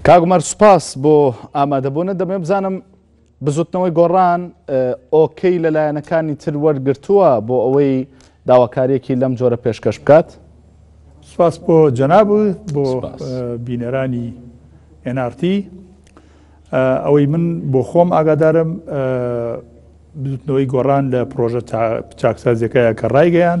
کاگومەر سوپاس بۆ ئامادەبوونە دەبێ بزانم بزوتنەوەی گۆڕان ئۆکەی لە لایەنەکانی تر وەرگرتووە بۆ ئەوەی داواکاریەکی لەم جۆرە پێشکەش بکات؟ سپاس بۆ جەناب و بۆ بینەرانی NRT ئەوەی من بۆ خۆم ئاگادارم بزوتنەوەی گۆڕان لە پرۆژە چاکسازیەکەیە کە ڕایگەیان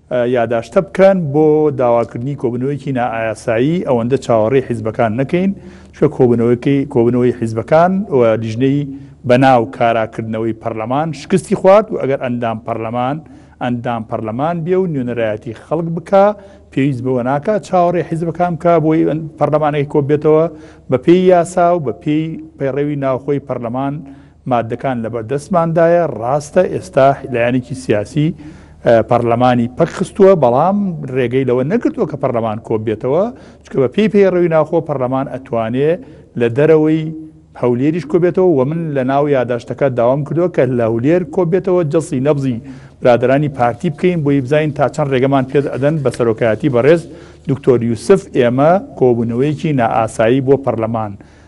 یاداشتە بکەن بۆ داواکردنی کۆبوونەوەیەکی نائایاسایی ئەوەندە چاوەڕێی حیزبەکان نەکەین، چونکە کۆبوونەوەکەی کۆبوونەوەی حیزبەکان و لیژنەی بەناو کارا کردنەوەی پەرلەمان شکستی خوارد و ئەگەر ئەندام پەرلەمان ئەندام پەرلەمان بێ و نوێنەرایەتی خەڵک بکا پێویست بەوە ناکا چاوەڕێی حیزبەکان بکا بۆی پەرلەمانەکەی کۆببێتەوە بەپێی یاسا و بەپێی پەیڕەوی ناوخۆی پەرلەمان ماددەکان لەبەردەستماندایە، ڕاستە ئێستا لایەنێکی سیاسی پەرلەمانی پەکخستووە، بەڵام ڕێگەی لەوە نەگرتووە کە پەرلەمان کۆببێتەوە، چونکە بەپێی پەیڕەوی ناوخۆ پەرلەمان ئەتوانێ لە دەرەوەی هەولێریش کۆبێتەوە و من لەناو یاداشتەکە داوام کردووە کە لە هەولێر کۆببێتەوە جەڵسی نەبزی برادەرانی پارتی بکەین بۆی بزانین تا چەند ڕێگەمان پێ ئەدەن بە سەرۆکایەتی بەڕێز دکتۆر یوسف ئێمە کۆبوونەوەیەکی نائاسایی بۆ پەرلەمان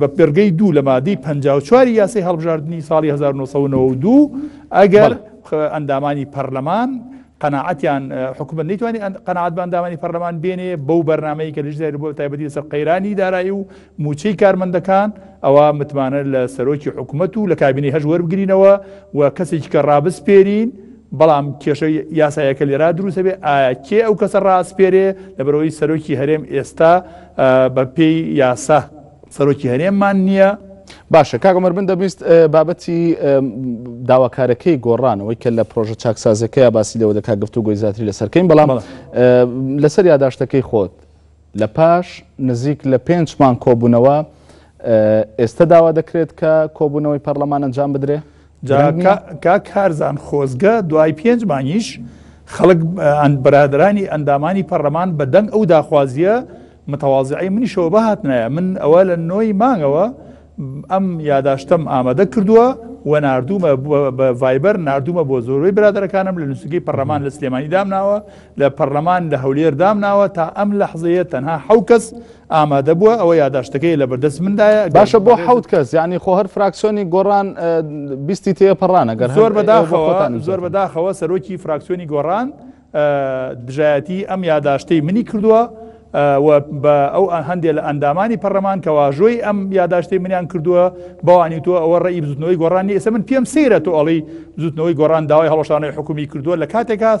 بە پێڕگەی دوو لە مادەی پەنجا و چواری یاسای هەڵبژاردنی ساڵی هەزار و نۆ سەد و نەوە و دوو ئەگەر ئەندامانی پەرلەمان قەناعەتیان حکومت نەیتوانانی ئەن- قەناعەت بە ئەندامانی پەرلەمان بێنێ بەو بەرنمەیە کە لەژداری بۆ تایبەتی لەسەر قەیرانی دارایی و موچەی کارمەندەکان ئەوە متمانە لە سەرۆکی حکومت و لە کابینەی هەش وەربگرینەوە و کەسێکی کە ڕابسپێرین بەڵام کێشە یاسایەکە لێرا دروستە بێ ئایا کێ ئەو کەسە ڕاسپێرێ لەبەرەوەی سەرۆکی هەرێم ئێستا بە پێی یاسا سەرۆکی هەرێممان نییە باشە کاک عمر من دەبیست بابەتی داواکارەکەی گۆڕانەوەی کە لە پرۆژە چاکسازەکەی باسی لەوە دەکات گفتو گۆی زیاتری لەسەرکەین بەڵام لەسەر یاداشتەکەی خۆت لە پاش نزیک لە پێنج مان کۆبوونەوە ئێستا داوا دەکرێت کە کۆبوونەوەی پەرلەمان ئەنجام بدرێ جا کاک کارزان خۆزگە دوای پێنج مانگیش خەڵک برادرانی ئەندامانی پەرلەمان بە دەنگ ئەو داخوازیە متەوازعی منیشەوە بهاتنایە من ئەوە لە نۆی مانگەوە ئەم یاداشتم ئامادە کردووە و نردومە بە ڤایبەر نردومە بۆ زۆربەی برادەکانم لە نووسگەی پەرلەمان لە سلێمانی دامناوە لە پەڕلەمان لە هەولێر دامناوە تا ئەم لەحزەیە تەنها حەو کەس ئامادە بووە ئەوە یاداشتەکەی لە بەردەست مندایە باشە بۆ حەوت کەس یعنی خۆ هەر فراکسۆنی گۆڕان بیستی تێ پەڕانە گەر زۆر بەداخەوەتان زۆر بەداخەوە سەرۆکی فراکسیۆنی گۆڕان دژایەتی ئەم یاداشتەی منی کردووە بە ئەو هەندێک لە ئەندامانی پەرلەمان کە واژۆی ئەم یاداشتی منیان کردووە بەوانی تۆ ئەوە ڕێی بزوتنەوەی گۆڕانی ئێستا من پێم سەیرە تۆ ئەڵی زوتنەوەی گۆڕان داوای هەڵۆشانەوەی حکومی کردووە لە کاتێکاس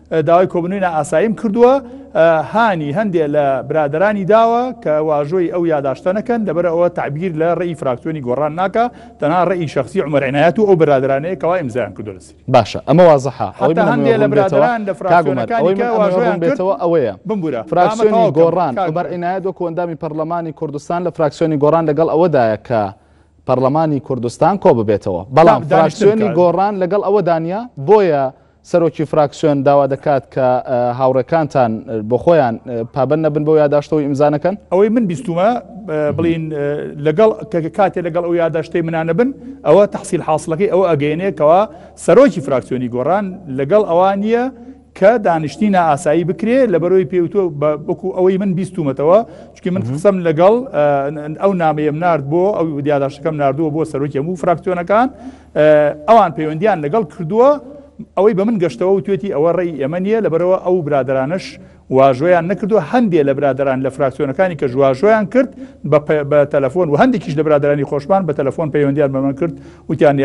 داوای کۆبوونەوەی نائاساییم کردووە، هانی هەندێ لە برادەرانی داوە کە واژۆی ئەو یاداشتە نەکەن، لەبەرئەوە تەعبیر لە ڕێی فراکسیۆنی گۆڕان ناکا، تەنها ڕێی شەخسی عومەر عینایەت و ئەو برادەرانەیە کەوا ئیمزایان کردووە لە سری. باشە ئەمە وازحە، ئەوەی من ئەمەوێ ڕوون بێتەوە، کاک عومەر، ئەوەی من ئەمەوێ ڕوون بێتەوە ئەوەیە، فراکسیۆنی گۆڕان، عومەر عینایەت وەکو ئەندامی پەرلەمانی کوردستان لە فراکسیۆنی گۆڕان لەگەڵ ئەوەدایە کە پەرلەمانی کوردستان کۆببێتەوە، بەڵام فراکسیۆنی گۆڕان لەگەڵ ئەوەدا نییە، بۆیە سەرۆکی فراکسیۆن داوا دەکات کە هاوڕێکانتان بۆ خۆیان پابەند نەبن بەو یاداشتەوەی ئیمزا نەکەن. ئەوەی من بیستوومە بڵێین لەگەڵ کە کاتێ لەگەڵ ئەو یاداشتەی منا نەبن ئەوە تەحسیل حاسڵەکەی ئەوە ئەگەیەنێ کەوا سەرۆکی فراکسیۆنی گۆڕان لەگەڵ ئەوان نییە کە دانیشتنی نائاسایی بکرێ لەبەرەوەی پێی وتووە بە وەکوو ئەوەی من بیستوومەتەوە چونکی من قسەم لەگەڵ ئەو نامەیەم نارد بۆ ئەو یاداشتەکەم ناردووە بۆ سەرۆکی هەموو فراکسیۆنەکان ئەوان پەیوەندیان لەگەڵ کردووە ئەوەی بە من گەشتەوە وتێتی ئەوە ڕێی ئێمە نییە لەبەرەوە ئەو برادرانش واژۆیان نەکردووە هەندێک لە برادران لە فراکسیۆنەکانی کە ژواژۆیان کرد بە تەلەفۆن و هەندێکیش لە برادرانی خۆشمان بە تەلەفۆن پەیوەندیان بەمەن کرد وتیان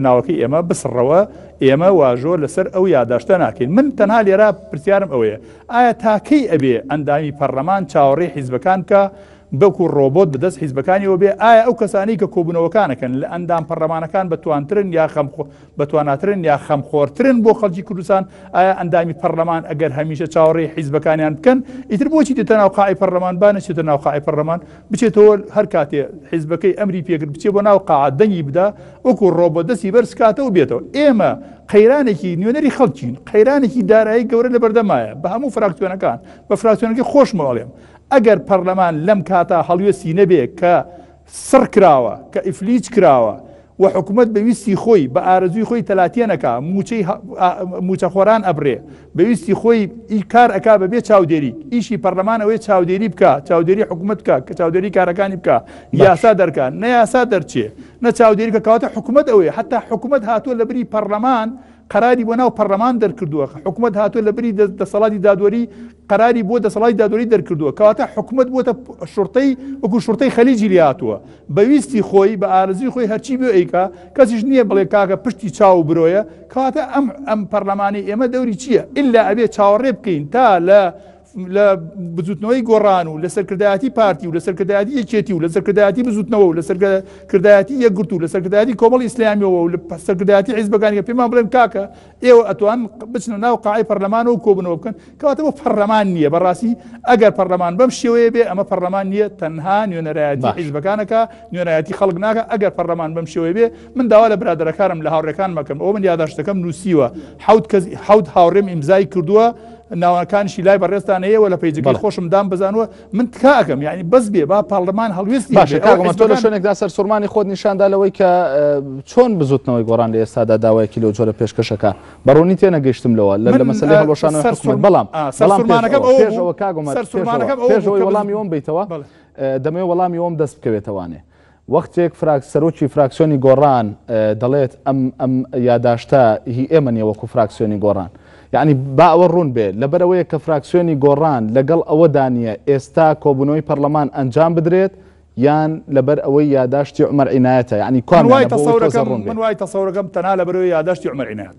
ناوەکەی ئێمە بسڕەوە ئێمە واژۆ لەسەر ئەو یاداشتە ناکەین من تەنها لێرا پرسیارم ئەوەیە ئایا تاکەی ئەبێ ئەندامی پەرلەمان چاوەڕێ حیزبەکان کە بەکو ڕۆبۆت بەدەست حیزبەکانیەوە بێ، ئایا ئەو کەسانەی کە کۆبونەوەکانەکەن لە ئەندام پەڕلەمانەکان بەتوانترن یا خەم بەتواناترن یا خەم خۆرترن بۆ خەڵکی کوردستان، ئایا ئەندامی پەڕلەمان ئەگەر هەمیشە چاوەڕێی حیزبەکانیان بکەن ئیتر بۆچی دێتە ناو قاعی پەڕلەمان با نەچێتە ناو قاعی پەڕلەمان بچێتەوە هەر کاتێ حیزبەکەی ئەمری پێکرد بچێ بۆ ناو قاعە دەنگی بدا وەکو ڕۆبۆت دەستی بەرز کاتەوە بێتەوە ئێمە قەیرانێکی نوێنەری خەڵکین قەیرانێکی دارایی گەورە لەبەردەمایە بە هەموو فراکتیۆنەکان بە فراکتیۆنەکەی خۆشمەوەڵێم ئەگەر پەرلەمان لەم کاتە هەڵوێستی نەبێ کە سڕ کراوە، کە ئیفلیج کراوە و حکومەت بە ویستی خۆی، بە ئارەزووی خۆی تەلاتێن ئەکا، مووچەی مووچەخۆران ئەبڕێ، بە ویستی خۆی ئی کار ئەکا بە بێ چاودێریک، ئیشی پەرلەمان ئەوەیە چاودێری بکا، چاودێری حکومەت بکا، کە چاودێری کارەکانی بکا، یاسا دەرکا، نە یاسا دەرچێ، نە چاودێری بکا، کەواتە حکومەت ئەوەیە، حەتتا حکومەت هاتووە لە بری پەرلەمان، قەراری بۆ ناو پەڕلەمان دەرکردووە، حکومەت هاتووە لە بری دەسەڵاتی دادوەری قەراری بۆ دەسەڵاتی دادوەری دەرکردووە، کەواتە حکومەت بووەتە شوڕتەی وەکو شوڕتەی خەلیجی لێهاتووە، بە ویستی خۆی بە ئارەزووی خۆی هەرچی بێ ئەیکا، کەسیش نییە بڵێ کاکە پشتی چاو و برۆیە، کەواتە ئەم ئەم پەڕلەمانەی ئێمە دەوری چییە؟ ئیلا ئەبێ چاوەڕێ بکەین تا لە لە بزوتنەوەی گۆڕان و لە سەرکردایەتی پارتی و لە سەرکردایەتی یەکێتی و لە سەرکردایەتی بزوتنەوە و لە سەرکردایەتی یەکگرت و لە سەرکردایەتی کۆمەڵ ئیسلامیەوە و لە سەرکردایەتی حیزبەکانی کە پێمان بڵێن کاکە ئێوە ئەتوان بچنە ناو قاعی پەرلەمانەوە کۆبنەوە بکەن کەواتە بۆ پەرلەمان نییە بەڕاستی ئەگەر پەرلەمان بەم شێوەیە بێ ئەمە پەرلەمان نییە تەنها نوێنەرایەتی حیزبەکانەکە نوێنایەتی خەڵک ناکە ئەگەر پەرلەمان بەم شێوەی بێ من داوا لە برادەرەکانم لە هاوڕێکان مەکەم ئەو من یاداشتەکەم نووسیوە حوت کەس حوت هاوڕێم ئیمزای کردووە ناوەکانشی لای بەڕێزتان هەیە و لە پەیجەکەی خۆشم دام بزانوە من تکا ئەەکەم یعنی بەس بێ با پاڵمان هەڵوێست باشە کاگەمەتۆ لە شوێنێکدا سەر سوورمانی خۆت نیشاندا لەوەی کە چۆن بزوتنەوەی گۆڕان لە ئێستادا داوایەکی لەو جۆرە پێشکەشەکە بەڕوونی تێ نەگەشتم لەوە لە لە مەسەلی هەڵۆشان بەڵام سەرمانەکەەوە کاگەمە پێشەوەی وەڵامی وم بیتەوە دەمێ وەڵامی وم دەست بکەوێتەوانێ وەختێک فراک سەرۆکی فراکسیۆنی گۆڕان دەڵێت ئەم ئەم یاداشتە هی ئێمە نیە وەکو فراکسیۆنی گۆڕان یعنی با ئەوە ڕوون بێ لەبەرەوەیە کە فراکسیۆنی گۆڕان لەگەڵ ئەوە دانیە ئێستا کۆبوونەوەی پەرلەمان ئەنجام بدرێت یان لەبەر ئەوەی یاداشتی عمەر عینایەتە یعنی کوا من وای تەسەورەکەم من وای تەسەورەکەم تەنها لەبەرەوەی یاداشتی عمەر عینایەت.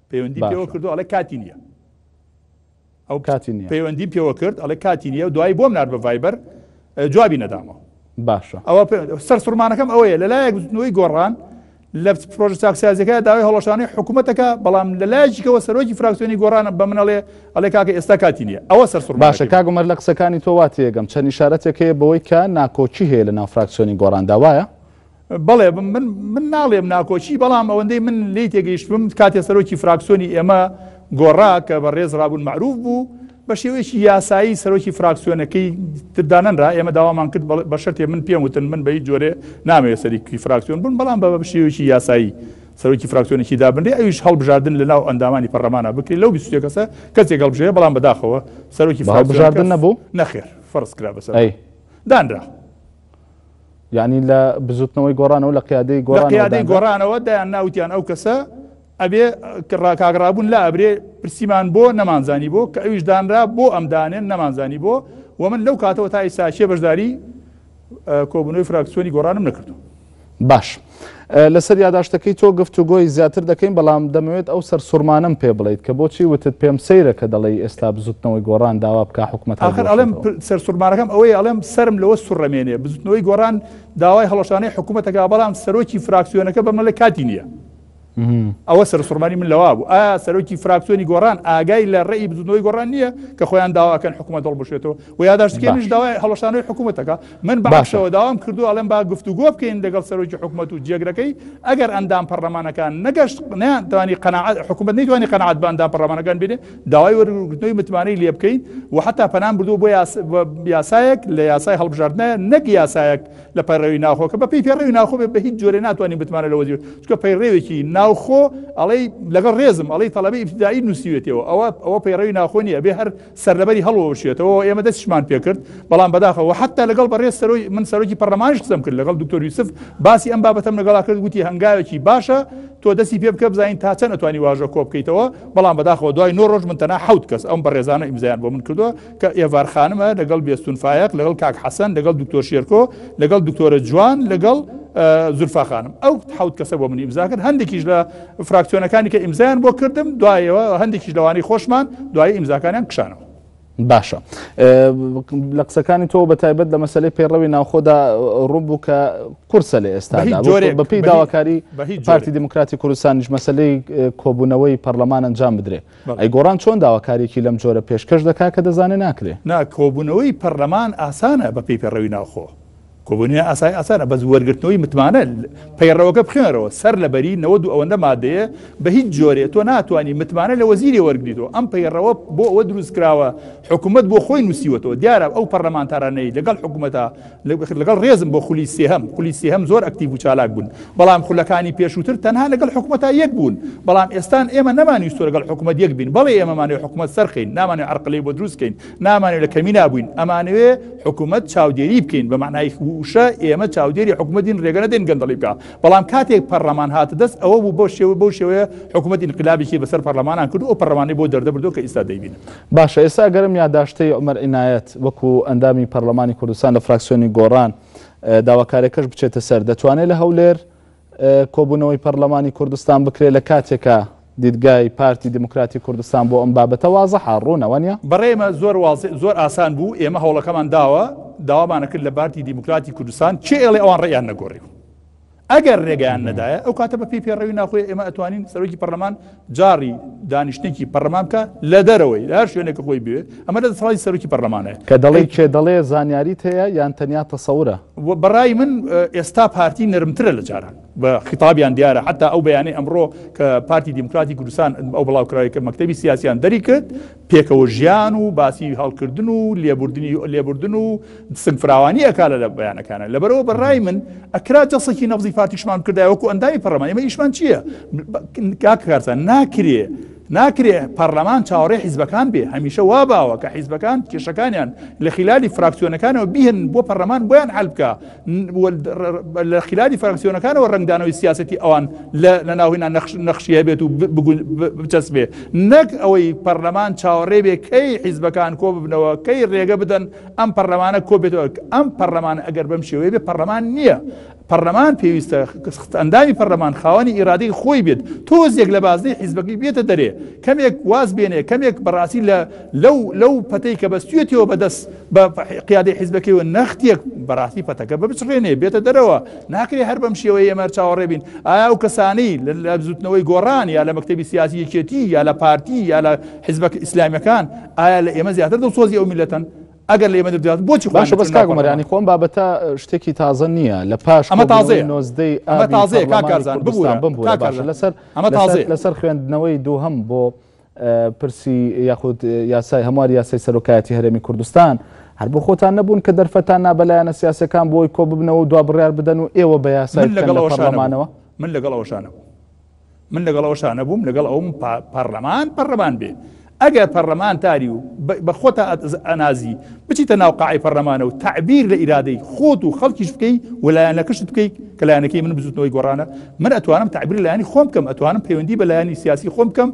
پەیوەندی پێوە باشە کردو ئەڵێ کاتی نیە ئەو کاتی نییە پەیوەندیم پێوە کرد ئەڵێ کاتی نیە و دوایی بۆم نار بە ڤایبەر ئە، جوابی نەدامەوە باشە ئەوە پێ- سەرسوڕمانەکەم ئەوەیە لە لایەک بزوتنەوەی گۆڕان لە پرۆژە چاکسازیەکە داوای هەڵۆشانەی حکوومەتەکە بەڵام لە لایەکیکەوە سەرۆکی فراکسیۆنی گۆڕانە بە منەڵێ ئەڵێ کاکە ئێستا کاتی نیە ئەوە باشە سەرسوڕمانەکەی من کاگومەر لە قسەکانی تۆ واتێگەم چەند ئیشارەتێک هەیە بەوەی کە ناکۆکی هەیە لە ناو فراکسیۆنی گۆڕاندا وایە بەڵێ من ناڵێم ناکۆکی بەڵام ئەوەندەی من لی تێگەیشتم کاتێ سەرۆکی فراکسۆنی ئێمە گۆڕا کە بە ڕێز ڕابوون معروف بوو بە شێوەیەکی یاسایی سەرۆکی فراکسیۆنەکەی تردانەنرا ئێمە داوامان کرد بە شتێ من پێم وتن من بەی جۆرێ نامەوێت سەرکی فراکسیۆن بوون بەڵام بە بە شێوەیەکی یاسایی سەرۆکی فراکسیۆنێکی دابنرێ ئەوش هەڵبژاردن لە ناو ئەندامانی پەرلەمانە بکرێت لەو بیستێ کەسە کەسێک هەڵبژێ بەڵام بەداخەوە سەرۆکی فراکسیۆن نەبوو نەخێر فەرز کرا بەسەر دانرا یعنی لە بزوتنەوەی گۆڕانەوە لە قیادەی گۆڕان قیادەی گۆڕانەوە دایان ناوتیان ئەو کەسە ئەبێ ڕاکاگرابوون لا ئەبرێ پرسیمان بۆ نەمانزانی بۆ کە ئەویش دانرا بۆ ئەم دانێن نەمانزانی بۆ و من لەو کاتەوە تای ساچێ بەشداری کۆبنەوەی فراکسیۆنی گۆڕانم نەکردو باش. لەسەر یاداشتەکەی تۆ گفتوگۆی زیاتر دەکەین، بەڵام دەمەوێت ئەو سەرسوڕمانەم پێ بڵێیت کە بۆچی وتت پێم سەیرە کە دەڵێی ئێستا بزوتنەوەی گۆڕان داوا بکا حکومەت ئاخر ئەڵێم سەرسوڕمانەکەم ئەوەیە ئەڵێم سەرم لەوە سوڕەمێنێ بزوتنەوەی گۆڕان داوای هەڵوەشانەی حکومەتەکا بەڵام سەرۆکی فراکسیۆنەکە بەمەڵێ کاتی نیە. ئەوە سەرسوڕمانی من لەوا بوو ئا سەرۆکی فراکسیۆنی گۆڕان ئاگای لە ڕێی بزنەوەی گۆڕان نییە کە خۆیان داواکەن حکوومەت دڵ بشێتەوە و یاداشتکەنیش داوای هەڵشانەوەی حکوومەتەکە من باشەوە داوام کردو ئەڵم با گفتوگۆ بکەین لەگەڵ سەرۆکی حکوومەت و جێگرەکەی ئەگەر ئەندام پەرلەمانەکان نەگەشت نیان توانی قەنەعات حکوومەت نەیتوانی قەنەعات باندا پەرلەمانەکان بێنێ داوای وەرگرتنەوەی متمانەی لێ بکەین و حتا پەنام بردو بۆ یاسایەک لە یاسای هەڵبژاردنە نەک یاسایەک لە پەیڕەوی ناوخۆ کە بە پێی پەیڕەوی ناوخۆ بێ بە هیچ جۆرێ ناتوانین بتمانە لە وەزیوت چکە پەیڕەوێکی ناوخۆ ئەڵێ لەگەڵ ڕێزم ئەڵی تەڵەبی ئیبتدایی نووسیوێتەوە ئەوە ئەوە پەیڕەوی ناوخۆ نیە بێ هەر سەرلەبەری هەڵوەشێتەوە ئێمە دەستشمان پێکرد بەڵام بەداخەوە حتا لەگەڵ بەڕێز سەرۆی من سەرۆکی پەرلەمانش قسەم کرد لەگەڵ دکتۆر یوسف باسی ئەم بابەتەم لەگەڵا کرد گوتی هەنگاوێکی باشە تۆ دەستی پێ بکە بزانین تا چەند ئەتوانی واژە کۆ بکەیتەوە بەڵام بەداخەوە دوای نۆ ڕۆژ من تەنها حوت کەس ئەم بەڕێزانە ئیمزایان بۆ من کردووە کە ئێڤار خانمە لەگەڵ بێستون فایەق لەگەڵ کاک حەسەن لەگەڵ دکتۆر شێرکۆ لەگەڵ دکتۆرە جوان لەگەڵ زورفا خانم ئەو حوت کەسە بۆ من ئیمزا کرد هەندێکیش لە فراکسیۆنەکانی کە ئیمزایان بۆ کردم دوایەوە هەندێکیش لەوانی خۆشمان دوای ئیمزاکانیان کشانەوە باشە لە قسەکانی تۆ بە تایبەت لە مەسلەی پێڕەوی ناوخۆدا ڕوون بوو کە قورسە لە ئێستا بەپی داواکاری پارتی دموکراتی کوردستانیش مەسلەی کۆبوونەوەی پەرلەمان ئەنجام بدرێت ئەی گۆڕان چۆن داواکاریەکی لەم جۆرە پێشکەش دەکا کە دەزانێ ناکرێ؟ نا کۆبونەوەی پەرلەمان ئاسانە بە پێی پەیڕەوی ناوخۆ کۆبونە ئاسای ئاسانە بەس وەرگرتنەوەی متمانە پەیڕەوەکە بخێنەرەوە سەر لە بەری نەوە دوو ئەوەندە مادەیە بە هیچ جۆرێ تۆ ناتوانانی متمانە لە وەزیری وەرگیتەوە ئەم پەیڕەوە بۆ ئەوە دروست کراوە حکوومەت بۆ خۆی نووسیوەەوە دیارە ئەو پەرلەمانتارانەی لەگەڵ حکوومەتە لەگەڵ ڕێزم بۆ خولی سێهەم خولی سێهەم زۆر ئەکتیو و چالاک بوون بەڵام خولەکانی پێشووتر تەنها لەگەڵ حکوومەتە یەک بوون بەڵام ئێستان ئێمە نەمانویست لەگەڵ حکوومەت یەک بین بەڵێ ئێمەمانێ حکوومەت سەرخین نامانێ عرقلەی بۆ دروستکەین نامانێ لە کەمی نابووین ئەمانوێ حکوومەت چاودێری بکەین بە معنای وشە ئێمە چاودێری حکوومەتین ڕێگەنە دێن گەندەڵی بکە بەڵام کاتێک پەرلەمان هاتە دەست ئەوە بوو بۆ شێوە بۆ شێوەیە حکوومەت انقلابێکی بەسەر پەرلەمانان کرد و پەرلەمانی بۆ دەردەبردو کە ئیستا دەیبین باشە ئێستا ئەگەرم یاداشتەی عومەر عینایەت وەکو ئەندامی پەرلەمانی کوردستان لە فراکسیۆنی گۆڕان داواکارێکەش بچێتە سەر دەتوانێت لە هەولێر کۆبوونەوەی پەرلەمانی کوردستان بکرێت لە کاتێکە دیدگای پارتی دیموکراتی کوردستان بۆ ئەم بابەتە وازەحە ڕوونەوە نیە؟ بەڕێمە زۆر واز زۆر ئاسان بوو ئێمە هەوڵەکەمان داوە داوامانەکرد لە بارتی دیموکراتی کوردستان چێ ئێڵێ ئەوان ڕێیان نەگۆڕی و ئەگەر رێگەیان نەدایە ئەو کاتە بە پێی پێڕەوی ناخۆی ئێمە ئەتوانین سەرۆکی پەرلەمان جاری دانیشتێکی پەرلەمان بکە لە دەرەوەی لە هەر شوێنێکە خۆی بێ ئەمە لە دەسەڵی سەرۆکی پەرلەمانەیە کە دەڵی کێ دەڵێ زانیاری هەیە یان تەنیا تەسەورە بەڕای من ئێستا پارتی نرمترە لە جاران بە خیتابیان دیارە حتا ئەو بەیانەی ئەمڕۆ کە پارتی دیموکراتی کوردستان ئەو بڵاوکراوی کە مەکتتەبی سیاسیان دەری کرد پێکەوە ژیان و باسی هەڵکردن و لێبوردنی لێبوردن و سنگ فراوانی ئەکا لە لە بەیانەکانە لەبەرەوە بەڕای من ئەکرا جەسەکی نەفزی فاتیشمان کردای وەکو ئەندامی پەڕەمان ئمە ئیشمان چییە کاکارسان ناکرێ ناکرێ پەرلەمان چاوەڕێ حیزبەکان بێ هەمیشە وا باوە کە حیزبەکان کێشەکانیان لە خلالی فراکسیۆنەکانەوە بیهن بۆ پەرلەمان بۆیان حلبکە لە خلالی فراکسیۆنەکانەوە ڕنگدانەوەی سیاستی ئەوان لە ناوهینا نەخشی هەبێت و بچەسبێ نەک ئەوەی پەرلەمان چاوەڕێ بێ کەی حیزبەکان کۆ ببنەوە کەی ڕێگە بدەن ئەم پەرلەمانە کۆبێتەوە ئەم پەرلەمان ئەگەر بەم شێوەیە بێ پەرلەمان نییە پەرلەمان پێویستە خست ئەندامی پەرلەمان خاوەنی ئیرادەی خۆی بێت تۆزێک لە بازنەی حیزبەکەی بێتە دەرێ کەمێک واز بێنێ کەمێک بەڕاستی لە لەو لەو پەتەی کە بەستویەتەوە بەدەست بە قیادەی حیزبەکەیەوە نەختێک بەڕاستی پەتەکە ببچڕێنێ بێتە دەرەوە ناکرێ هەر بەم شێوەیە ئێمە چاوەڕێ بین ئایا و کەسانی لە بزوتنەوەی گۆڕان یا لە مەکتتەبی سیاسی یەکێتی یا لە پارتی یا لە حیزبەک ئیسلامیەکان ئایا لە ئێمە زیاتر دڵسۆزی ئەو میلەتەن ئەگەر لە ئێمە دەدات بۆچی باشە بەس کاگومەرانی خۆم بابەتە شتێکی تازە نییە لە پاش ئەمە تازێ نۆزدەی ئەمە تازێ کاکارزان ببوورە بم بوو لەسەر ئەمە تازێ لەسەر خوێندنەوەی دووهم بۆ پرسی یاخود یاسای هەموار یاسای سەرۆکایەتی هەرێمی کوردستان هەر بۆ خۆتان نەبوون کە دەرفەتان نا بە لایەنە سیاسیەکان بۆی کۆ ببنەوە و دوا بڕیار بدەن و ئێوە بە یاسای بکەن لە پەڕلەمانەوە؟ من لەگەڵ ئەوەشا نەبووم. من لەگەڵ ئەوەشا نەبووم لەگەڵ ئەوم پەڕلەمان پەڕلەمان بێ ئەگەر پەڕلەمانتاری و بە خۆتا ئەنازی، بچیتە ناو قاعەی پەڕلەمانە و تەعبیر لە ئیرادەی خۆت و خەڵکیش بکەی و لایەنەکەشت بکەی کە لایەنەکەی من بزوتنەوەی گۆڕانە من ئەتوانم تەعبیر لایەنی خۆم بکەم ئەتوانم پەیوەندی بە لایەنی سیاسی خۆم بکەم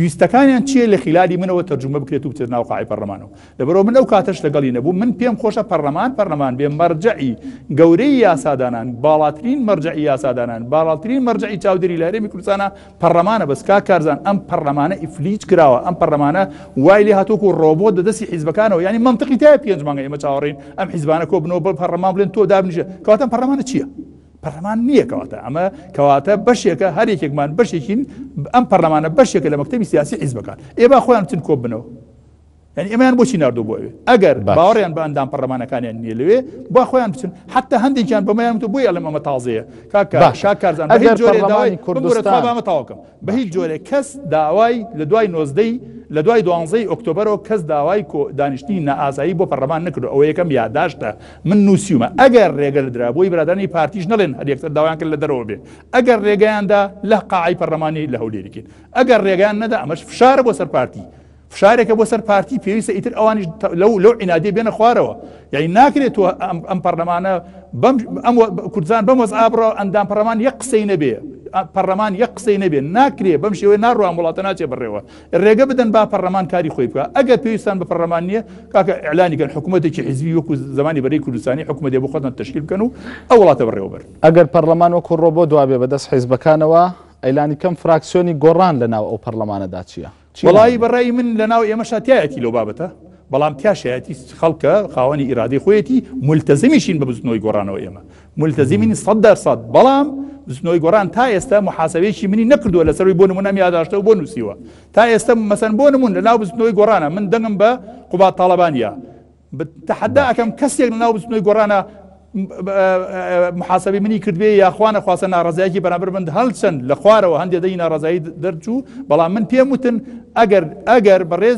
ویستەکانیان چییە لە خلالی منەوە تەرجمە بکرێت و بچێت ناو قاعی پەرلەمانەوە لەبەرەوە من ئەو کاتەش لەگەڵی نەبوو من پێم خۆشە پەرلەمان پەرلەمان بێ مەرجعی گەورەی یاسادانان باڵاترین مەرجعی یاسادانان باڵاترین مەرجعی چاودێری لە هەرێمی کوردستانە پەڕلەمانە بەس کاک کارزان ئەم پەڕلەمانە ئیفلیج کراوە ئەم پەڕلەمانە وای لێ هاتووک و ڕۆبۆت دە دەستی حیزبەکانەوە ینی منطقی تای پێنج مانگە ئمە چاوەڕین ئەم حیزبانە کۆ بنەوە بە پەڕلەمان بلێن تۆ دابنیژە کەواتە پەڕلەمانە چییە؟ پەرلەمان نییە کەواتە ئەمە کەواتە بەشێکە هەر یەکێکمان بەشێکین ئەم پەرلەمانە بەشێکە لە مەکتتەبی سیاسی حیزبەکان ئێبا خۆیان چن کۆ بنەوە یانی ئەمەیان بۆچی نردو بۆ ئەوێ ئەگەر باوەڕیان بە ئەندام پەرلەمانەکانیان نیە لەوێ با خۆیان بچن حتا هەندێکیان بەمەیان تو بۆی ئەلم ئەمە تازەیە کاکارزان ئەگەر جۆرەداوای کوردستانمە تاواکەم بە هیچ جۆرێک کەس داوای لە دوای نۆزدەی لە دوای دوانزەی ئۆکتۆبرەوە کەس داوای کۆ دانیشتنی نائازایی بۆ پەرلەمان نکرد ئەوە یەکەم یاداشتە من نووسیومە ئەگەر ڕێگە لە درابووی برادانی پارتیش نڵێن هەر یەکتر داوایان کرد لە دەرەوە بێ ئەگەر ڕێگەیاندا لە قاعی پەرلەمانی لە هەولێریکن ئەگەر ڕێگەیان نەدا ئەمەش فشار بۆ سەر پارتی فشارێکە بۆ سەر پارتی پێویستە ئیتر ئەوانیش لەو لەو عینادی بێنە خوارەوە یعنی ناکرێت تۆ ئەم پەرلەمانە ئەم کوردزان بەم وەز ئابڕە ئەندام پەرلەمان یەک قسەی نەبێ پەرلەمان یەک قسەی نەبێ ناکرێ بەم شێوەی ناڕوان وڵاتە ناچێ بڕێەوە ڕێگە بدەن با پەرلەمان کاری خۆی بکە ئەگەر پێویستان بە پەرلەمان نییە کاکە ئەلانیگەن حکوومەتێکی حزبی وەکو زمانی بەرەی کوردستانی حکوومەتێ بۆ خۆتان تشکیل بکەن و ئەو وڵاتە بڕێوەبەر ئەگەر پەرلەمان وەکو ڕۆبۆ دوابێ بەدەست حیزبەکانەوە ئەیلانی کەم فراکسیۆنی گۆڕان لە ناو ئەو پەرلەمانەدا چییە؟ وەڵایی بە ڕای من لە ناو ئێمە شاتایەتی لەو بابەتە بەڵام تیاشایەتی خەڵکە خاوەنی ئیرادەی خۆیەتی ملتەزمیشین بە بزنەوەی گۆڕانەوە ئێمە ملتەزیمین سەد دەرسەد بەڵام بزنەوەی گۆران تا ئێستا محاسبێکی منی نەکردووە لەسەروی بۆ نمونەم یاداشتەوە بۆ نووسیوە تا ئێستا مەسەن بۆ نمون لە ناو بزنەوەی گۆرانە من دەنگم بە قوبات تاالبانیا تەحەدا ئەکەم کەسێک لە ناو بزوتنەوەی گۆڕانا محاسبی منی کردبێ یاخواانە خواستە ناڕزایکی بەرامبەر من هەلچەند لە خوارەوە هەندێک دەی ناڕزایی دەرچوو بەڵام من پێم وتن ئەگەر ئەگەر بەڕێز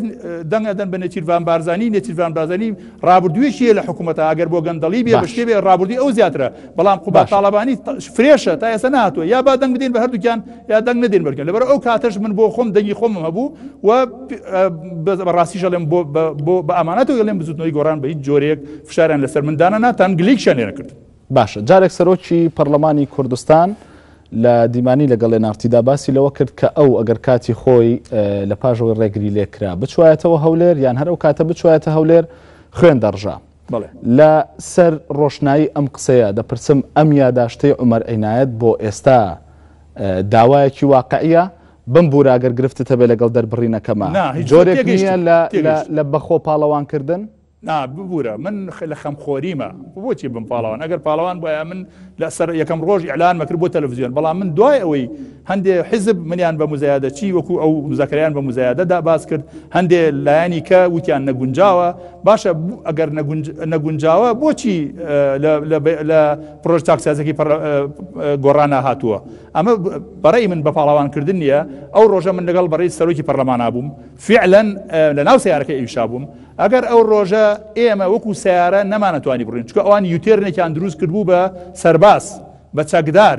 دەنگدەن بە نێچیرڤان بارزانانی نێچیرڤان بازانی رابردوویشیە لە حکوومەتە ئەگەر بۆ گەندەڵی بێ بەشێ بێ رابردی ئەو زیاترە بەڵام قوبا تاالبانی فرێشە تا ئێستا ناتوە یا با دەنگ بدەین بە هەردووکیان یا دەنگ نەدەین بەرکەن لەبەر ئەو کاتەش من بۆ خۆم دەنگی خۆمم هەبوو و بەڕاستی ژەڵێم بۆ بە ئامانەتەوە گەڵێم بزوتنەوەی گۆڕان بە هیچ جۆرێک فشاریان لەسەر مندانە ناتان گلیک شانێرە کرد باشە جارێک سەرۆکی پەرلەمانی کوردستان لە دیمانی لەگەڵ لێنارتیدا باسی لەوە کرد کە ئەو ئەگەر کاتی خۆی لە پاژەوەی ڕێگری لێکرا بچوایەتەوە هەولێر یان هەر ئەو کاتە بچوایەتە هەولێر خوێن دەڕژە لە سەر ڕۆشنایی ئەم قسەیە دەپرسم ئەم یاداشتەی عومەر عینایەت بۆ ئێستا داوایەکی واقعیە؟ بم بورە ئەگەر گرفتت هەبێ لەگەڵ دەربڕینەکەما جۆرێک نیە لە لە بە خۆ پاڵەوان کردن؟ نا ببورە من لە خەمخۆریمە بۆچی بم پاڵەوان ئەگەر پاڵەوان بوایە من لە سەر یەکەم ڕۆژ ئیعلانمە کرد بۆ تەلەڤزیۆن بەڵام من دوای ئەوەی هەندێ حزب منیان بە مزایادە چی وەکو ئەو مزەکەیان بە مزایادەدا باس کرد هەندێ لایەنی کە وتیان نەگونجاوە باشە ئەگەر نەگونجاوە بۆچی لە پرۆژ تاکسازەکی گۆڕانە هاتووە ئەمە بەڕێی من بە پاڵاوانکردن نییە ئەو ڕۆژە من لەگەڵ بەڕی سەرۆکی پەرلەماننا بووم فعلەن لە ناو سیارەکە ئیشا بووم ئەگەر ئەو ڕۆژە ئێمە وەکو سەیارە نەمانەتوانی بڕوین چکە ئەوان یوتێرنێکیان دروست کردبوو بە سەرباز بە چەکدار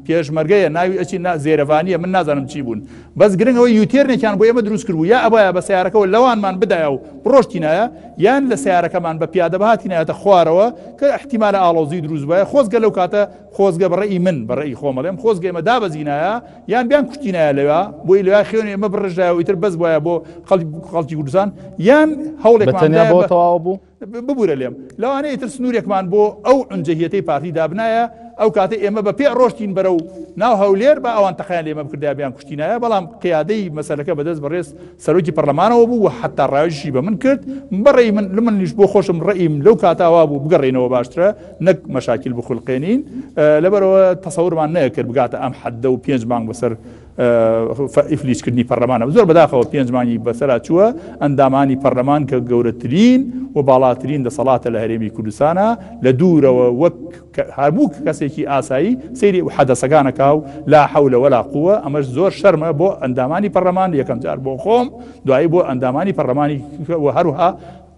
پێشمەرگەیە ناوی ئەچی نا زێرەڤانیە من نازانم چی بوون بەس گرنگ ئەوە یوتێرنێکیان بۆ ئێمە دروست کردبوو یا ئەبایە بە سیارەکەەوە لەوانمان بدایە و ڕۆشتینایە یان لە سیارەکەمان بە پیادە بهاتینایەتە خوارەوە کە احتیمالە ئاڵۆزی دروست بە خۆزگە لەو کاتە خۆزگە بڕی من بڕی خۆمەڵێم خۆزگە ئێمە دابەزینایە یان بیان کوشتینایە لەوێ بۆی لەوێ خێونی ئەمە بڕژدایە و ئیتر بەس وایە بۆ خەڵک خەڵکی کوردستان یان هەوڵێک بە تەنیا بۆ تەواو بوو ببوورە لێم لەوانەیە ئیتر سنوورێکمان بۆ ئەو ئەنجەهیەتەی پارتی دابنایە ئەو کاتە ئێمە بە پێ ڕۆشتین بەرە و ناو هەولێر بە ئەوان تەقیان لێمە بکردا بیان کوشتینایە بەڵام قیادەی مەسەلەکە بەدەست بەڕێز سەرۆکی پەرلەمانەوە بوو و حتا ڕایژی بە من کرد بەڕێ من لە منیش بۆ خۆشم ڕێیم لەو کاتاوا بوو بگەڕێنەوە باشترە نەک مەشاکیل بخولقێنین، لەبەرئەوە تەسەورمان نەئەکرد بگاتە ئەم حەددە و پێنج مانگ بەسەر ئیفلیجکردنی پەرلەمانەوە، زۆر بەداخەوە پێنج مانگی بەسەرا چووە، ئەندامانی پەرلەمان کە گەورەترین و باڵاترین دەسەڵاتە لە هەرێمی کوردستانا، لە دوورەوە وەک هەموو کەسێکی ئاسایی سەیری حەدەسەکان ئەکا و لا حول ولا قوە، ئەمەش زۆر شەرمە بۆ ئەندامانی پەرلەمان، یەکەمجار بۆ خۆم، دوایی بۆ ئەندامانی پەرلەمانی و هەروەها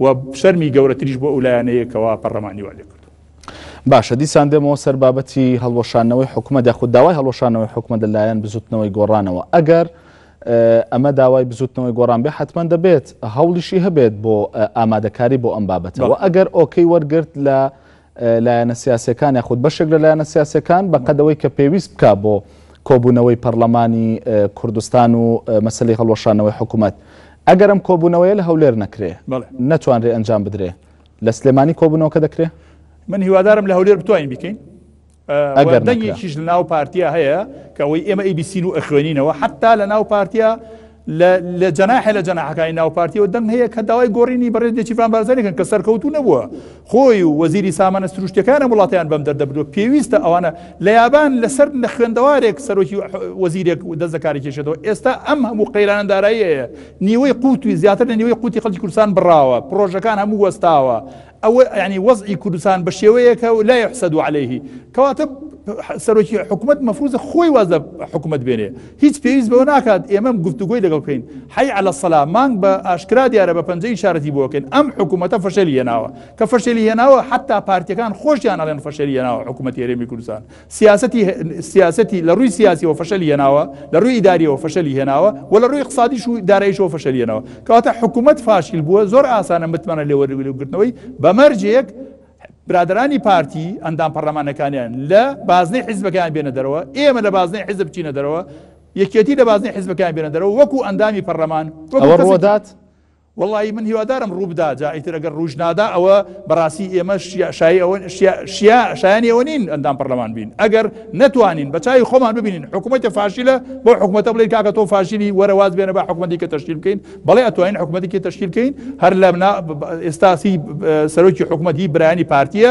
وە شەرمی گەورەتریش بۆ ئەو لایەنەیە کەوا پەڕلەمانی وا لێکردووە. باشە دیسان دێمەوە سەر بابەتی هەڵوەشانەوەی حکومەت یاخود داوای هەڵوەشانەوەی حکومەت لە لایەن بزوتنەوەی گۆڕانەوە ئەگەر ئەمە داوای بزوتنەوەی گۆڕان بێ حتمما دەبێت هەوڵیشی هەبێت بۆ ئامادەکاری بۆ ئەم بابەتەوە ئەگەر ئۆکەی وەرگرت لە لایەنە سیاسیەکان یاخود بەشێک لە لایەنە سیاسیەکان بە قەد ئەوەی کە پێویست بکا بۆ کۆبوونەوەی پەرلەمانی کوردستان و مەسلی هەڵوەشانەوەی حکوومەت ئەگەر ئەم کۆبوونەوەیە لە هەولێر نەکرێ نەتوانرێ ئەنجام بدرێ لە سلێمانی کۆبوونەوەکە دەکرێ من هیوادارم لە هەولێر بتوانین بیکەین و دەنگێکیش لە ناو پارتیا هەیە کە ئەوەی ئێمە ئەی بیسین و ئەخوێنینەوە حتا لە ناو پارتیا لە جەناحە لە جەناحەکانی ناو پارتیەوە دەنگ هەیە کە داوای گۆڕینی بەڕێ دێکیفان بارزانەکەن کە سەرکەوتو نەبووە خۆی و وەزیری سامانە سروشتەکانە وڵاتیان بەم دەردەبدو پێویستە ئەوانە لە یابان لەسەر لە خوێندەوارێک سەرۆکی وەزیرێک و دەزەکاری کێشێتەوە ئێستا ئەم هەموو قەیرانە داراییەیە نیوەی قوتوی زیاتر لە نیوەی قوتی خەڵکی کوردستان بڕاوە پرۆژەکان هەموو وەستاوە ئەوە یانی وەزعی کوردستان بە شێوەیەکە و لا یحسد علیه کەواتە سەرۆکی حکوومەت مەفروزە خۆی واز لە حکوومەت بێنێ هیچ پێویست بەوە ناکات ئێمەم گفتوگوی لەگەڵ بکەین حی على سەلا مانگ بە ئاشکرا دیارە بە پەنجەی شارەتی بۆکەن ئەم حکوومەتە فەشەلی هێناوە کە فەشەلی هێناوە حتا پارتەکان خۆشیان ئەڵێن فەشەلی هێناوە حکوومەت هێرێمی کوردستان سیاسەتی سیاسەتی لە ڕووی سیاسیەوە فەشەلی هێناوە لە ڕووی ئیداریەوە فەشەلی هێناوە و لە ڕووی قسادیش و دارایشەوە فەشەلیێنەوە کەواتە حکوومەت فاشیل بووە زۆر ئاسانە متمانە لێوەرگرتنەوەی بەمەرجێک برادرانی پارتی ئەندام پەرلەمانەکانیان لە بازنەی حیزبەکان بێنە دەرەوە ئێمە لە بازنەی حیزب چینە دەرەوە یەکێتی لە بازنەی حیزبەکان بێنە دەرەوە وەکو ئەندامی پەرلەمان ڕۆدات وەڵایی من هیوادارم ڕووبدا جا ئیتر ئەگەر ڕووش نادا ئەوە بەڕاستی ئێمە شایی ئەوە شیا شایانی ئەوە نین ئەندام پەرلەمان بین ئەگەر نەتوانین بە چاوی خۆمان ببینین حکوومەتە فاشیلە بۆ حکوومەتە بڵێن کاکە تۆ فاشیلی وەرەواز بێنە بە حکوومەتی کە تەشکیل بکەین بەڵێ ئەتوانین حکوومەتی کە تەشکیل بکەین هەر لە ئێستاسی سەرۆکی حکوومەتی برانی پارتیە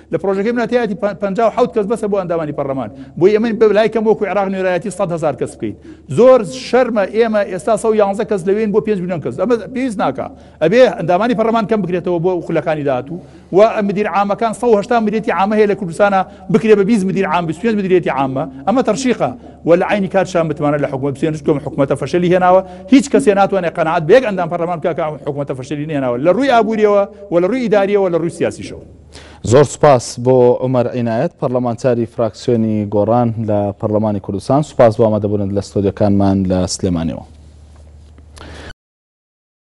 لە پرۆژەکەی منە تیاتی پەنجا و حەوت کەس بەسە بۆ ئەندامانی پەرلەمان بۆی ئەمەین بە لای کەم وەکو عێراق نوێرایەتی سەد هەزار کەس بکەین زۆر شەرمە ئێمە ئێستا سە و یانزە کەس لەوێن بۆ پێنج میلیۆن کەس ئەمە پێویست ناکا ئەبێ ئەندامانی پەرلەمان کەم بکرێتەوە بۆ خولەکانی داهاتوو و مدیر عامەکان 180 ملیەتی عامە هەیە لە کوردستانە بکرێ بە 20 مدیر عام 25 مدیریەتی عامە ئەمە تەرشیقە و لە عینی کات شان متمانە لە حکومت بسێنش کۆم حکومەتە فەشەلی هێناوە هیچ کەسێ ناتوانێت قەنەعات بە یەک ئەندام پەرلەمان بکە کە حکومەتە فەشەلی نێناوە لە ڕووی ئابووریەوە و لە ڕووی ئیداریەوە لە ڕووی سیاسیشەوە زۆر سوپاس بۆ عومەر عینایەت پەرلەمانتاری فراکسیۆنی گۆڕان لە پەرلەمانی کوردستان سوپاس بۆ ئامادەبوونت لە ستۆدیەکانمان لە سلێمانیەوە.